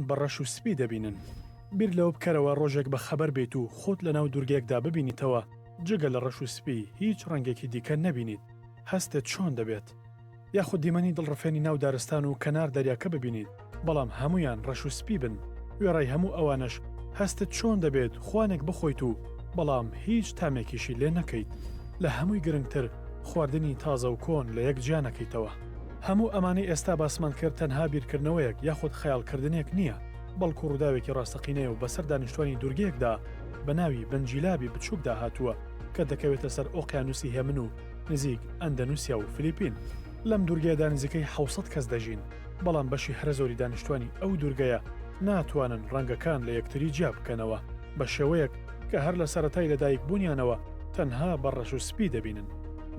بە ڕەش و سپی دەبینن. بیر لەوە بکەرەوە ڕۆژێک بە خەبەر بیت و خۆت لە ناو دوورگەیەکدا ببینیتەوە جگە لە ڕەش و سپی هیچ ڕەنگێکی دیکە نەبینیت هەستت چۆن دەبێت؟ یاخود دیمەنی دڵڕفێنی ناو دارستان و کەنار دەریاکە ببینیت بەڵام هەموویان ڕەش و سپی بن وێڕای هەموو ئەوانەش هەستت چۆن دەبێت خوانێک بخۆیت و بەڵام هیچ تامێکیشی لێ نەکەیت؟ لە هەمووی گرنگتر خواردنی تازە و کۆن لە یەک جیا نەکەیتەوە. هەموو ئەمانەی ئێستا باسمان کرد تەنها بیرکردنەوەیەک یاخود خەیاڵکردنێک نییە، بەڵکو ڕووداوێکی ڕاستەقینەیە و بەسەر دانیشتوانی دوورگەیەکدا بە ناوی بنجیلابی بچووکدا هاتووە کە دەکەوێتە سەر ئۆقیانووسی هێمن و نزیک ئەندەنوسیا و فلیپین. لەم دوورگەیەدا نزیکەی حەوت سەد کەس دەژین، بەڵام بەشی هەرە زۆری دانیشتوانی ئەو دوورگەیە ناتوانن ڕەنگەکان لە یەکتری جیا بکەنەوە بە شێوەیەک کە هەر لە سەرەتای لەدایکبوونیانەوە تەنها بە ڕەش و سپی دەبینن.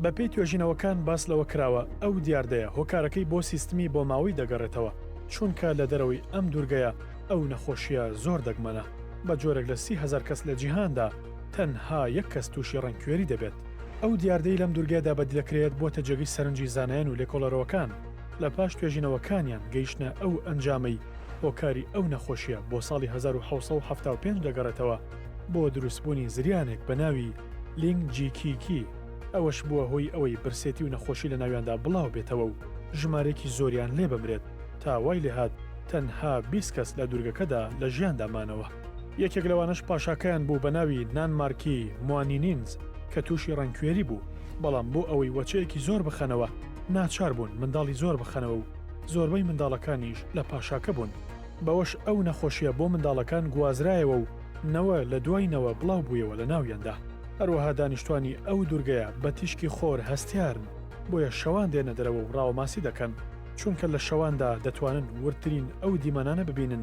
بەپێی توێژینەوەکان باس لەوە کراوە ئەو دیاردەیە هۆکارەکەی بۆ سیستمی بۆماوەی دەگەڕێتەوە، چونکە لە دەرەوەی ئەم دوورگەیە ئەو نەخۆشییە زۆر دەگمەنە، بە جۆرێک لە سی هەزار کەس لە جیهاندا تەنها یەک کەس تووشی ڕەنگکوێری دەبێت. ئەو دیاردەی لەم دوورگەیەدا بەدیدەکرێت بۆتە جێگەی سەرنجی زانایان و لێکۆڵەرەوەکان لە پاش توێژینەوەکانیان گەیشتنە ئەو ئەنجامەی هۆکاری ئەو نەخۆشییە بۆ ساڵی هەزار و حەوت سەد و حەفتا و پێنج دەگەڕێتەوە بۆ دروستبوونی زریانێک بە ناوی لینگ جیکیکی، ئەوەش بووە هۆی ئەوەی برسێتی و نەخۆشی لە ناویاندا بڵاو بێتەوە و ژمارەیەکی زۆریان لێ بمرێت، تا وای لێ هات تەنها بیست کەس لە دوورگەکەدا لە ژیاندا مانەوە. یەکێک لەوانەش پاشاکەیان بوو بە ناوی نانمارکی موانینینز کە تووشی ڕەنگکوێری بوو، بەڵام بۆ ئەوەی وەچەیەکی زۆر بخەنەوە ناچار بوون منداڵی زۆر بخەنەوە و زۆربەی منداڵەکانیش لە پاشاکە بوون، بەوەش ئەو نەخۆشییە بۆ منداڵەکان گوازرایەوە و، نەوە لە دوای نەوە بڵاو بوویەوە لە ناویاندا. هەروەها دانیشتوانی ئەو دورگەیە بە تیشکی خۆر هەستیارن، بۆیە شەوان دێنە دەرەوە و ڕاوەماسی دەکەن، چونکە لە شەواندا دەتوانن وردترین ئەو دیمەنانە ببینن